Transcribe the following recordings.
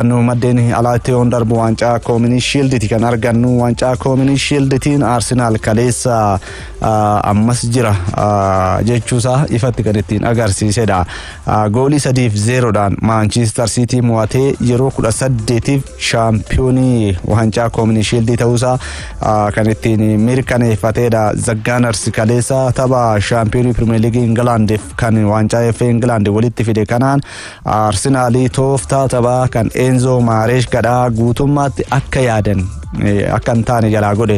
Nu maddeen alaa itti yoon darbu waancaa koominii shiilditi kan argannu waancaa koominii shiilditiin Arsenaal kaleessa ammas jira jechuusaa ifatti kan ittiin agarsiisedha. Goolii sadiif zeeroodhaan Maanchiistar Siitii mo'atee yeroo kudha saddeetiif shaampiyoonii waancaa koominii shiildii ta'uusaa kan ittiin mirkaneeffatedha. Zaggaanars kaleessa tapha shaampiyoonii pirimeer liigii Ingilaandiif kan waancaa FA Ingilaandi walitti fide kanaan Arsenaalii tooftaa taphaa kan Eenzoo Maareesh gadhaa guutummaatti akka yaadan akka hin taane jalaa godhe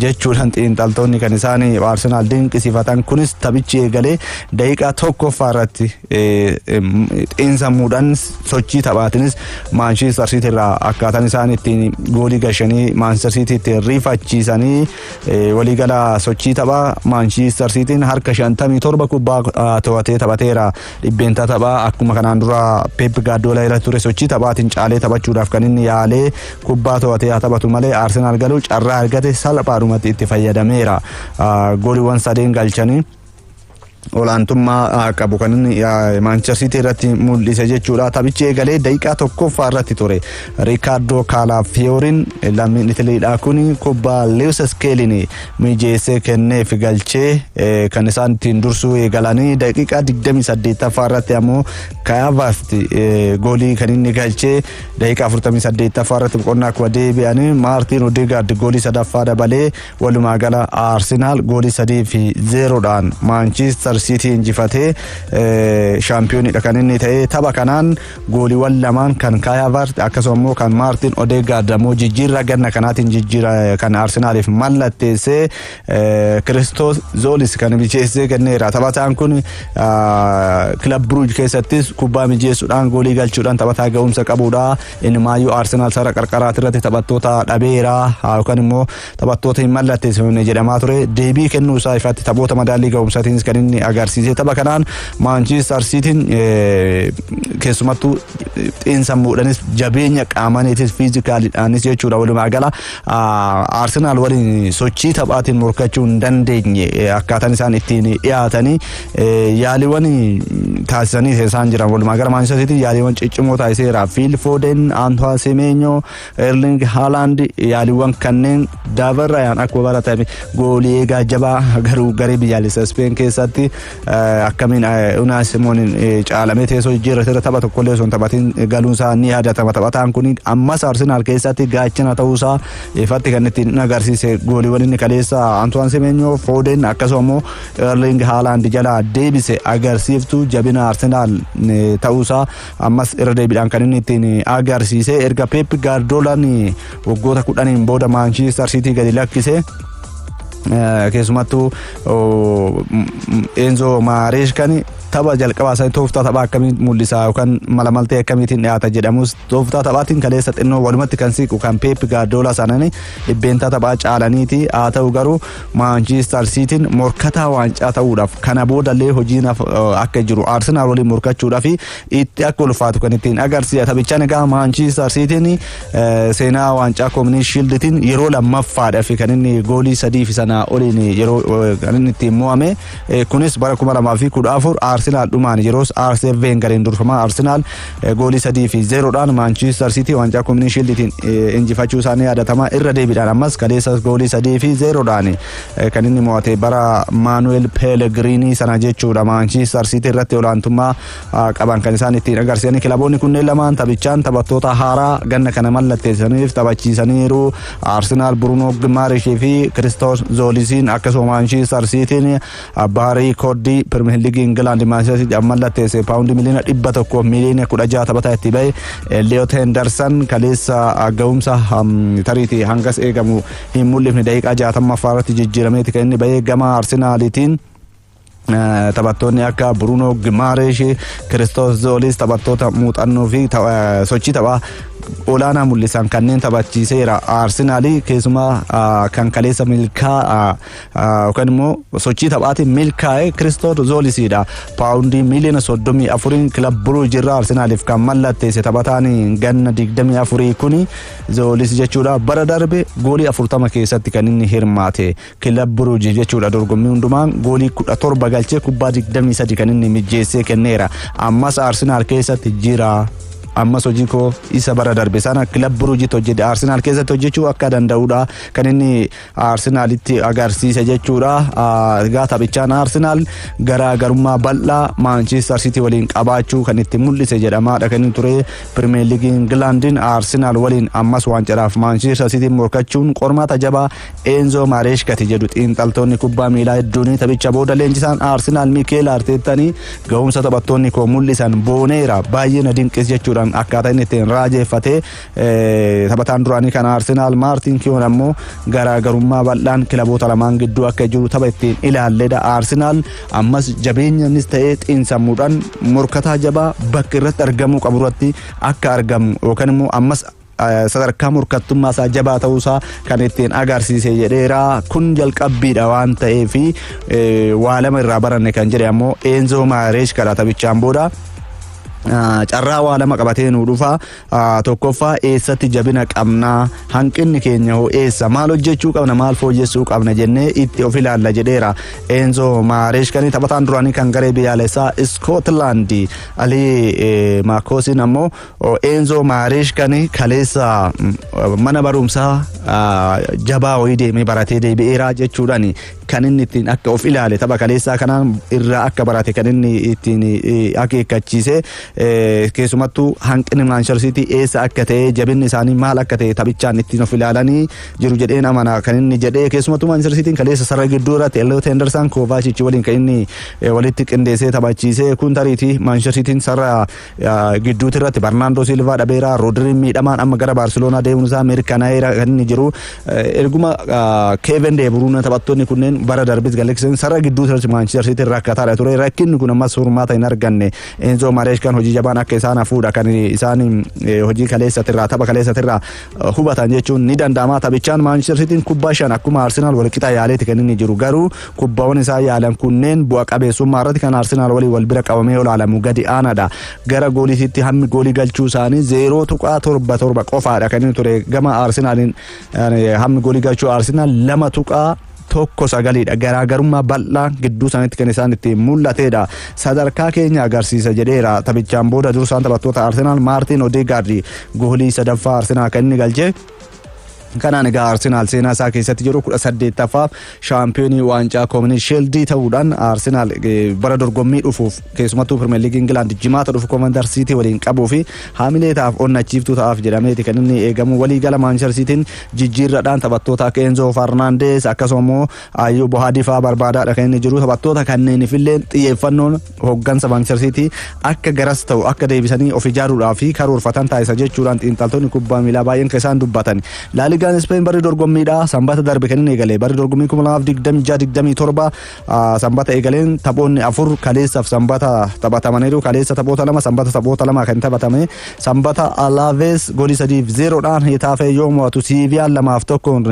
jechuudhaan xiinxaltoonni kan isaan Arsenaal dinqisiifatan kunis taphichi eegalee daqiiqaa tokkoffaa irratti xiinsammuudhaan sochii taphaatinis Maanshiistar Siitii irraa akkaataan isaan ittiin goolii gashanii Maanshiistar Siitiitti rifachiisanii waliigala sochii taphaa Maanshiistar Siitiin harka 57 kubbaa to'atee taphateera. Dhibbeentaa taphaa akkuma kanaan dura Peep Gaardiyoola irra ture sochii taphaatiin caalee taphachuudhaaf kan inni yaalee kubbaa to'atee haa taphatu malee Arsenaal galuu carraa argate salphaadhumatti itti fayyadameera. Gooliiwwan sadeen galchanii olaantummaa qabu kan inni Maanchester Siitii irratti mul'ise jechuudha. Taphichi eegalee daqiiqaa tokkoffaa irratti ture. Riikaardoo Kaalaafiyoorin lammiin Italiidhaa kun kubbaa Leewis Iskeelin mijeessee kenneef galchee kan isaan ittiin dursuu eegalanii daqiiqaa 28ffaa irratti ammoo Kaavaast goolii kan inni galchee daqiiqaa 48ffaa irratti boqonnaa kuba deebi'anii Maartiin Odeegaard goolii sadaffaa dabalee walumaa gala Arsenaal goolii sadii fi zeeroodhaan Maanchiistar Siitii injifatee shaampiyoonidha kan inni ta'e tapha kanaan Gooliiwwan lamaan kan Kaay Haavaart akkasuma immoo kan Maartin Odeegaard ammoo jijjiirraa ganna kanaatiin jijjiira kan Arsenaaliif mallatteessee eh, Kiristoos Zoolis kan mijeessee kenneera. Taphataan kun ah, kilab Bruuj keessattis kubbaa mijeessuudhaan goolii galchuudhaan taphataa ga'umsa qabudha. Inni maayyuu Arsenaal sara qarqaraati irratti taphattoota dhabeera ah, yookaan immoo Taphattoota hin mallatteessifamne jedhamaa ture deebii kennuu isaa ifaatti taphoota madaallii ga'umsaatiin kan inni agarsiise tapha kanaan Maanchiistar Siitiin keessumattuu xiinsammuudhaanis jabeenya qaamaniitis fiizikaaliidhaanis jechuudha walumaa gala Arsenaal waliin sochii taphaatiin morkachuu hin dandeenye akkaataan isaan ittiin dhiyaatanii yaaliiwwan taasisanii isaan jiran walumaa gala Maanchiistar Siitiin yaaliiwwan ciccimoo taasiseera Fiil Fooden Antoine Semenyo Erling Haaland yaaliiwwan kanneen dabarrayaan akkuma baratame goolii eegaa jabaa garuu garee biyyaalessa Ispeen keessatti akkamiin Unaa Simooniin caalamee teessoo jijjiirratti irra tapha tokkollee osoo hin taphatiin galuun isaa ni yaadatama. Taphataan kun ammas Arsenaal keessatti gaachana ta'uu isaa ifatti kan ittiin agarsiise gooliiwwan inni kaleessa Antoine Semenyo Foden akkasuma immoo Erling Haaland jalaa deebise agarsiiftu jabina Arsenaal ta'uu isaa Ammas irra deebiidhaan kan inni ittiin agarsiise erga Peep Gaardoolaan waggoota kudhaniin booda Maanchistar Siitii gadi lakkise. Keessumattuu Eenzo Maareeshkan tapha jalqabaa isaanii tooftaa taphaa akkamii mul'isa yookaan mala maltee akkamiitiin dhiyaata jedhamus tooftaa taphaatiin kaleessa xinnoo walumatti kan siiqu kan Peep Gaardoolaa sanani dhibbeentaa taphaa caalaniiti haa ta'u garuu Maanchiistar Siitiin morkataa waancaa ta'uudhaaf kana boodallee hojiin akka jiru Arsenaal waliin morkachuudhaaf itti akka ulfaatu kan ittiin agarsiisa. Taphichaan egaa Maanchiistar Siitiin seenaa waancaa kominii shiilditiin yeroo lammaffaadhaaf kan inni goolii sadii fi sanaa oliin yeroo kan inni ittiin mo'ame. Kunis bara 2014 Arsenaal dhumaan yeroos Arsene Weengariin durfamaa Arsenaal goolii 3 fi 0 dhaan Maanchiistar Siitii waancaa Kominii Shiildiitiin injifachuu isaanii yaadatama irra deebiidhaan ammas kaleessas goolii 3 fi 0 dhaan kan inni mo'ate bara Maanuweel Peelegiriinii sana jechuudha Maanchiistar Siitii irratti olaantummaa qaban kan isaan ittiin agarsiisan kilaboonni kunneen lamaan taphichaan taphattoota haaraa ganna kana mallatteessaniif taphachiisaniiru arsenaal burunoo gimaarishii fi kiristoos zoolisiin akkasuma maanshiistar siitiin abbaa riikoordii pirmiyeer liigii ingilaandi maanshiistar mallatteesse paawundi miliyoona dhibba tokko miliyoona kudha jaha taphataa itti bahe eliyoot henderson kaleessa ga'umsa tariitii hangas eegamu hin mul'ifne daqiiqaa jaatammaffaarratti jijjiirameeti kan inni bahe gama arsenaalitiin. Taphattoonni akka Bruunoo Gimaareesh, Kiristoos Zoolis taphattoota muuxannoo fi sochii taphaa olaanaa mul'isan kanneen taphachiiseera. Arsenaalii keessumaa kan kaleessa milkaa'aa yookaan immoo sochii taphaatiin milkaa'e Kiristoos Zoolisidha. Paawundii miiliyoona soddomii afuriin kilab Buruuj irraa Arsenaaliif kan mallatteesse taphataan ganna digdamii afurii kuni Zoolis jechuudha. Bara darbe goolii afurtama keessatti kan inni hirmaate. Kilab Buruuji jechuudha dorgommii hundumaan goolii 17 galchee kubbaa 23 kan inni mijjeessee kenneera. Ammas Arsenaal keessatti jira. Ammas hojii koo isa bara darbe sana kilab Buruujitti hojjete Arsenaal keessatti hojjechuu akka danda'udha kan inni Arsenaalitti agarsiise jechuudha. Egaa taphichaan Arsenaal garaagarummaa bal'aa Maanchiistar Sitii waliin qabaachuu kan itti mul'ise jedhamaadha kan inni ture Pirimeer Liigii Ingilaandiin Arsenaal waliin ammas waancaraaf Maanchiistar Sitiin morkachuun qormaata jabaa Eenzoo Maareesh gate jedhu xiinxaltoonni kubbaa miilaa hedduun taphicha booda leenjisaan Arsinaal Mikeel Arteettanii ga'umsa taphattoonni koo mul'isan booneera baay'ee na dinqis jechuudhaan akkaataa inni ittiin raajeeffatee taphataan duraanii kan Arsinaal Maartiin Kiyoon ammoo garaagarummaa bal'aan kilaboota lamaan gidduu akka jiru tapha ittiin ilaalledha Arsinaal ammas jabeenyaanis ta'ee xiinsammuudhaan morkataa jabaa bakka irratti argamuu qabu irratti akka argamu yookaan immoo ammas sadarkaa morkattummaa isaa jabaa ta'uu isaa kan ittiin agarsiise jedheera. Kun jalqabbiidha waan ta'eef waa lama irraa baranne kan jedhe ammoo Eenzoo Maareesh kadhaa taphichaan booda. Carraa waa lama qabatee nu dhufa. Tokkoffaa eessatti jabina qabna hanqinni keenya hoo eessa maal hojjechuu qabna maal fooyyessuu qabna jennee itti of ilaalla jedheera. Eenzoo Maareesh kan taphataan duraanii kan garee biyyaalessaa Iskootilaandi Alii Maakoosiin ammoo Eenzoo Maareeshkaan kaleessa mana barumsaa jabaa wayii deemee baratee deebi'eeraa jechuudhaan kan inni ittiin akka of ilaale tapha kaleessaa kanaan irraa akka barate kan inni ittiin akeekkachiise keessumattuu hanqinni Maanchester Siitii eessa akka ta'e jabinni isaanii maal akka ta'e taphichaan ittiin of ilaalanii jiru jedheen amana kan inni jedhee keessumattuu Maanchester Siitiin kaleessa sarara gidduu irratti Elliot Henderson Kovacic waliin kan inni walitti qindeessee taphachiise kun tariitii Maanchester Siitiin sarara Gidduuti irratti Barnaandoo Silvaa dhabeera. Roodiriin miidhamaan amma gara Baarseloonaa deemuun isaa mirkanaa'eera kan inni jiru. Erguma Keeven Deeburuun taphattoonni kunneen bara darbis galaksan sarara gidduuti irratti Maanchister Siitiin rakkataadha ture. Rakkinni kun ammas furmaata hin arganne. Eenzoo Mareeshkaan hojii jabaan akka isaan hafuudha kan isaan hojii kaleessatirraa tapha kaleessatirraa hubatan jechuun ni danda'ama. Taphichaan Maanchister Siitiin kubbaa shan akkuma Arsenaal walqixa yaaleeti kan inni jiru. Garuu Kubbawwan isaan yaalan kunneen bu'a qabeessummaa irratti kan Arsenaal waliin wal bira qabamee olaalamu gadi aanaadha. Gara gooliitiitti hammi goolii galchuu isaanii 0.77 qofaadha kan inni ture gama Arsenaaliin hammi goolii galchuu Arsenaal 2. tokko sagaliidha garaagarummaa bal'aa gidduu isaaniitti kan isaan itti mul'ateedha sadarkaa keenya agarsiisa jedheera taphichaan booda dursaan taphattoota arsenaal maartiin odeegaardi goolii sadaffaa arsenaal kan inni galche Kanaan egaa Arsenaal seenaa isaa keessatti yeroo 18ffaaf shaampiyoonii waancaa koominii sheeldii ta'uudhaan Arsenaal bara dorgommii dhufuuf keessumattuu Pirimeer Liigii Ingilaand jimaata dhufu Koomandar Siitii waliin qabuu fi haamilee ta'aaf onnachiiftuu ta'aaf jedhameeti kan inni eegamu waliigala Maanchester Siitiin jijjiirradhaan taphattoota akka Enzoo Farnaandees akkasuma immoo Ayyuu Bohaadii fa'aa barbaadaadha kan inni jiru taphattoota kanneeniifillee xiyyeeffannoon Hooggansa Maanchistar Siitii akka garas ta'u akka deebisanii of ijaaruudhaa fi karoorfatan taasisa jechuudhaan xiinxaltoonni kubbaa miilaa baay'een kan isaan dubbatan. Laaligaan Ispeen barri dorgommiidha. Sanbata darbe kan inni eegale. Barri dorgommii 2026-27 sanbata eegaleen taphoonni afur kaleessaaf sanbata taphatamaniiru. Kaleessa taphoota lama sanbata taphoota lama kan taphatame. Sanbata Alaavees goolii sadiif zeeroodhaan Hetaafee yoo mo'atu Siiviyaan lamaaf tokkoon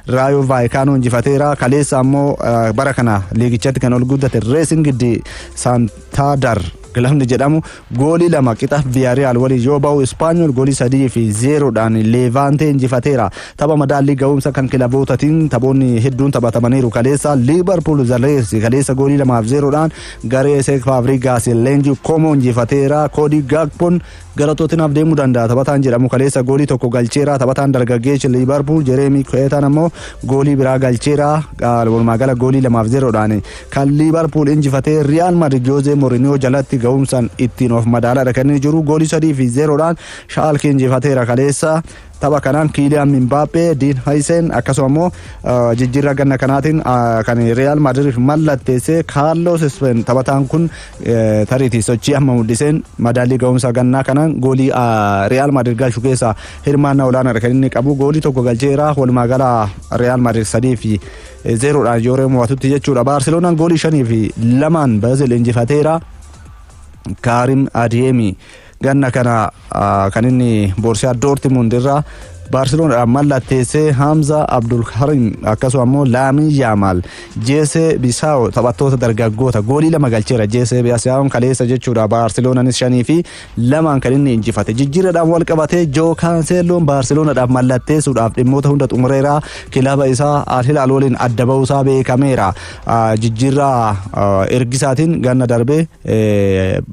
Raayoo Vaayikaanoo injifateera. Kaleessa ammoo bara kana liigichatti kan ol guddate Reesingidi Saantaadar kilabni jedhamu goolii lama qixa Viyaariyaal waliin yoo ba'u Ispaanyool goolii sadii fi zeeroodhaan Leevaantee injifateera. Tapha madaallii ga'umsa kan kilabootatiin taphoonni hedduun taphatamaniiru kaleessa Liivarpuul Zaleesi kaleessa goolii lamaaf zeeroodhaan garee Seek Faabrigaas leenjii Koomoo injifateera. Koodii Gaakpoon Gara Tootinaaf deemuu danda'a. Taphataan jedhamu kaleessa goolii tokko galcheera. Taphataan dargaggeessi Liibarpuul Jereemii Ku'eetaan ammoo goolii biraa galcheera. Walumaa gala goolii lamaaf zeeroodhaan kan Liibarpuul injifatee Riyaal Madrid Joozee Mooriniyoo jalatti ga'umsaan ittiin of madaaladha kan inni jiru. Goolii sadii fi zeeroodhaan Shaalke injifateera kaleessa. Tapha kanaan Kiiliyaan Mimbaappee, Diin Hayiseen akkasuma immoo jijjiirraa ganna kanaatiin kan Riyaal Maadiriif mallatteesse Kaarloos Ispeen taphataan kun tariitii sochii amma mul'iseen madaallii ga'umsa gannaa kanaan goolii Riyaal Maadiir galchu keessaa hirmaannaa olaanaadha kan inni qabu goolii tokko galcheera walumaa gala Riyaal Maadiir sadii fi zeeroodhaan yoo mo'atutti jechuudha Baarseloonaan goolii shanii fi lamaan Biraazil injifateera Kaarim Adiyeemii. Ganna kana kan inni Boorsiyaa Doortimuund irraa Baarseloonadhaan mallatteessee Hamza Abdulkarim akkasuma immoo Laamin Yaamaal Jeesee Bisaawo taphattoota dargaggoota goolii lama galcheera Jeesee Bisaawoon kaleessa jechuudha Baarseloonanis shanii fi lamaan kan inni injifate jijjiirradhaan wal qabatee Joo Kaanseelloon Baarseloonadhaaf mallatteessuudhaaf dhimmoota hunda xumureera kilaba isaa Al Hilaal waliin adda ba'uusaa beekameera Jijjiirraa ergisaatiin ganna darbe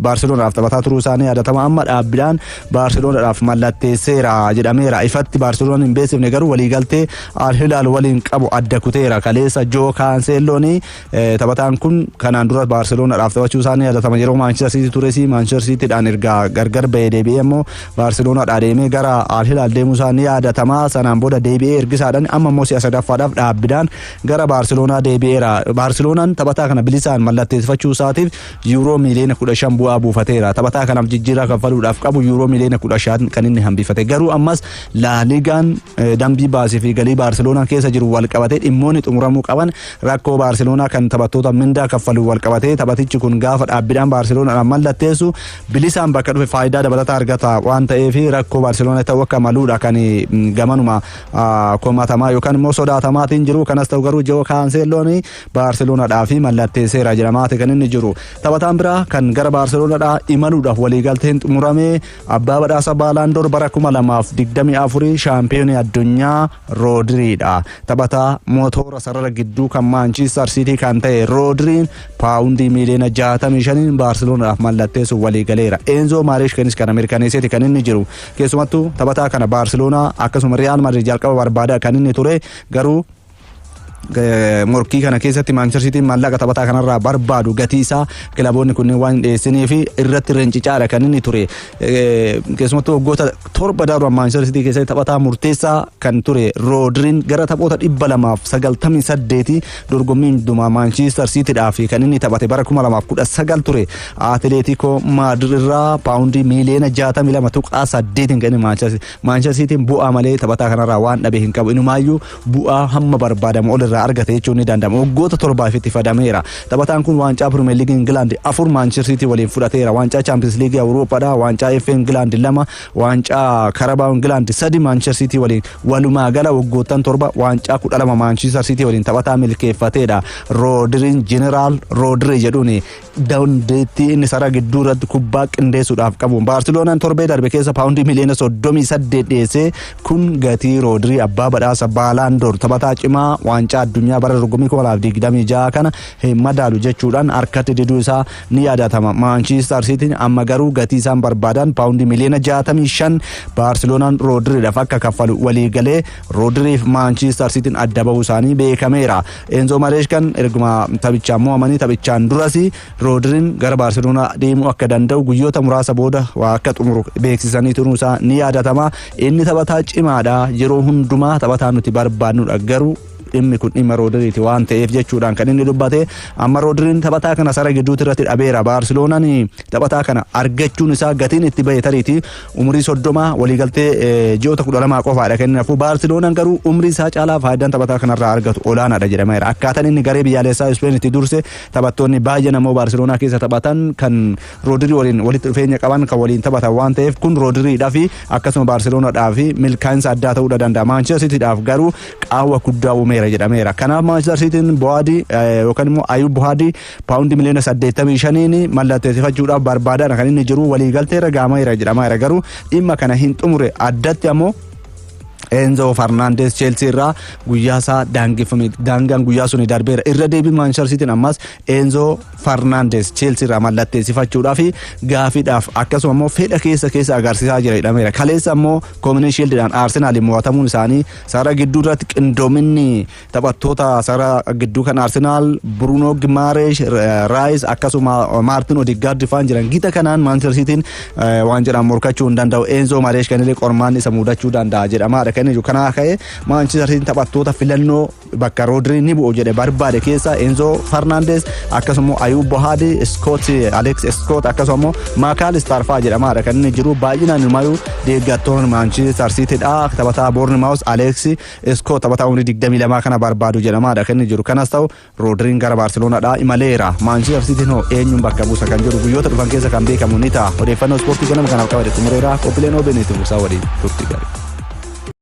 Baarseloonaadhaaf taphataa turuu isaanii yaadatama amma dhaabbiidhaan Baarseloonaadhaaf mallatteesseera jedhameera. Ifatti Baarseloonaan hin beeksifne garuu waliigaltee Al Hilaal waliin qabu adda kuteera. Kaleessa Joo Kaanseelloon taphataan kun kanaan dura Baarseloonaadhaaf taphachuu isaanii yaadatama yeroo Maanchister Siitii tures Maanchister Siitiidhaan erga gargar bahee deebi'ee immoo Baarseloonaadhaa deemee gara Al Hilaal deemuu isaa ni yaadatama. Sanaan booda deebi'ee ergisaadhaan amma immoo si'a sadaffaadhaaf dhaabbiidhaan Gara Baarseloonaa deebi'eera. Baarseloonaan taphataa kana bilisaan mallatteessifachuu isaatiif yuuroo miiliyoona 15 bu'aa buufateera. Taphataa kanaaf jijjiirraa kaffaluudhaaf qabu yuuroo miiliyoona 15 kan inni hambifate. Garuu ammas Laaligaan dambii baasii fi galii Baarseloonaan keessa jiru wal qabatee dhimmoonni xumuramuu qaban rakkoo Baarseloonaa kan taphattoota mindaa kaffalu wal qabatee taphatichi kun gaafa dhaabbiidhaan Baarseloonaan mallatteessu bilisaan bakka dhufe faayidaa dabalataa argata waan ta'eef rakkoo Baarseloonaa ta'uu akka maluudha kan gamanuma komatamaa yookaan immoo sodaatamaatiin jiru kanas ta'u garuu Joo Kaanseelloon Baarseloonadhaa fi mallatteesseera jedhamaati kan inni jiru taphataan biraa kan gara Baarseloonadhaa imaluudhaaf waliigalteen xumurame abbaa badhaasa baalaandoor bara 2024 shaampiyoonii addunyaa Roodiriidha taphataa motoora sarara gidduu kan Maanchiistar Siitii kan ta'e Roodiriin paawundii miiliyoona 65 Baarseloonadhaaf mallatteessuuf waliigaleera Eenzoo Maareeshkeenis kana mirkaneesseeti kan inni jiru Keessumattu taphataa kana Baarseloonaa akkasuma Riyaal Madrid jalqaba barbaada kan inni ture garuu morkii kana keessatti Maanchester Siitiin maallaqa taphataa kanarraa barbaadu gatii isaa kilaboonni kunneen waan hin dhiyeessinii fi irratti rincicaadha kan inni ture. Keessumattuu waggoota torba darban Maanchester Siitii keessatti taphataa murteessaa kan ture Roodiriin gara taphoota dhibba lamaaf sagaltamii saddeetii Dorgommii hundumaa Maanchiistar Siitidhaa fi kan inni taphate bara 2019 ture Atileetikoo Maadir irraa paawundii miiliyoona 62.8 kan Maanchiistar Siitiin bu'aa malee taphataa kanarraa waan dhabe hin qabu. Inumaayyuu bu'aa hamma barbaadamu ol irraa argate jechuun ni danda'ama. Waggoota torbaaf itti fadameera. Taphataan kun waancaa Pirimeer Liigii Ingilaandi afur Maanchiistar Siitii waliin fudhateera. Waancaa Chaampiyoons Liigii Awurooppaadhaa, waancaa FA Ingilaandi lama, Waancaa Karabaa Ingilaand sadi Maanchister Siitii waliin walumaa gala waggoottan torba waancaa kudha lama Maanchister Siitii waliin taphataa milkeeffateedha. Roodiriin Jeneraal Roodirii jedhuun dandeettii inni sarara gidduu irratti kubbaa qindeessuudhaaf qabu. Baarsiloonaan torbee darbe keessa paawundii miliyoona soddomii saddeet dhiyeessee kun gatii Roodirii abbaa badhaasa Baalaandoor taphataa cimaa waancaa addunyaa bara dorgommii kuma lamaa fi digdamii ja'a kana hin madaalu jechuudhaan harkatti diduu isaa ni yaadatama. Maanchistar Siitiin amma garuu gatii isaan barbaadan paawundii miliyoona 65 Baarseloonaan Roodiriidhaaf akka kaffalu waliigalee Roodiriif Maanchistar Siitiin adda bahuu isaanii beekameera. Eenzo Mareeshkan erguma taphichaan mo'amanii taphichaan duras Roodiriin gara Baarseloonaa deemuu akka danda'u guyyoota muraasa booda waa akka xumuru beeksisanii turuu isaa ni yaadatama. Inni taphataa cimaadha. Yeroo hundumaa taphataa nuti barbaannudha garuu dhimmi kun dhimma Roodiriiti waan ta'eef jechuudhaan kan inni dubbate amma Roodiriin taphataa kana sara gidduutti irratti dhabeera Baarsiloonaan taphataa kana argachuun isaa gatiin itti ba'e tariiti umurii soddoma waliigaltee ji'oota kudha lamaa qofaadha kan inni hafu Baarsiloonaan garuu umrii isaa caalaa faayidaan taphataa kanarraa argatu olaanaadha jedhameera akkaataan inni garee biyyaalessaa Ispeen itti durse taphattoonni baay'een ammoo Baarsiloonaa keessa taphatan kan Roodirii waliin walitti dhufeenya qaban kan waliin taphatan waan ta'eef kun Roodiriidhaa fi akkasuma Baarsiloonaadhaa fi milkaa'insa addaa ta'uudha danda'a Maanchester Siitiidhaaf garuu qaawwa guddaa uumeera jedhameera. Kanaaf Maanchister Siitiin Bohaadii yookaan immoo Ayub Bohaadii paawundii miliyoona 85n mallatteessifachuudhaaf barbaadaadha kan inni jiru waliigalteerra gaamaira jedhamaa jira garuu dhimma kana hin xumure addatti ammoo Enzo Fernandes Chelsea irraa guyyaa isaa daangeffame daangaan guyyaa suni darbeera irra deebii Manchester City ammas Enzo Fernandes Chelsea irraa mallatteessifachuudhaa fi gaafiidhaaf akkasuma immoo fedha keessa keessa agarsiisaa jira jedhameera kaleessa immoo Community Shield'dhaan Arsenal mo'atamuun isaanii Sara gidduu irratti qindoominni taphattoota sara gidduu kan Arsenaal Bruno Gimareesh, Raayis akkasuma Maartin Odiggaard faan jiran gita kanaan Maanchester Siitiin waan jedhan morkachuu hin danda'u. Eenzoo Mareesh kan illee qormaan isa mudachuu danda'a jedhamaadha kan jiru. Kanaa ka'e Maanchester Siitiin taphattoota filannoo bakka Roodrii ni bu'u jedhe barbaade keessaa Eenzoo Farnaandees akkasuma Ayuub Bohaadi, Iskoot Aleeks Iskoot akkasuma Maakaal Istaarfaa jedhamaadha kan inni jiru baay'inaan ilmaayuu Deeggartoonni Maanchiistar Siitidha. Taphataa Boornimaawus Aleeksi Iskoo taphataa umrii 22 kana barbaadu jedhamaadha kan inni jiru. Kanas ta'u Roodiriin gara Baarseloonaadha imaleera. Maanchiistar Siitiin hoo eenyuun bakka buusa kan jedhu guyyoota dhufan keessa kan beekamu ni ta'a. Odeeffannoo ispoortii ganama kanaaf qabate xumureera. Qophiileen OBN itti fufsaa waliin turtii gaarii.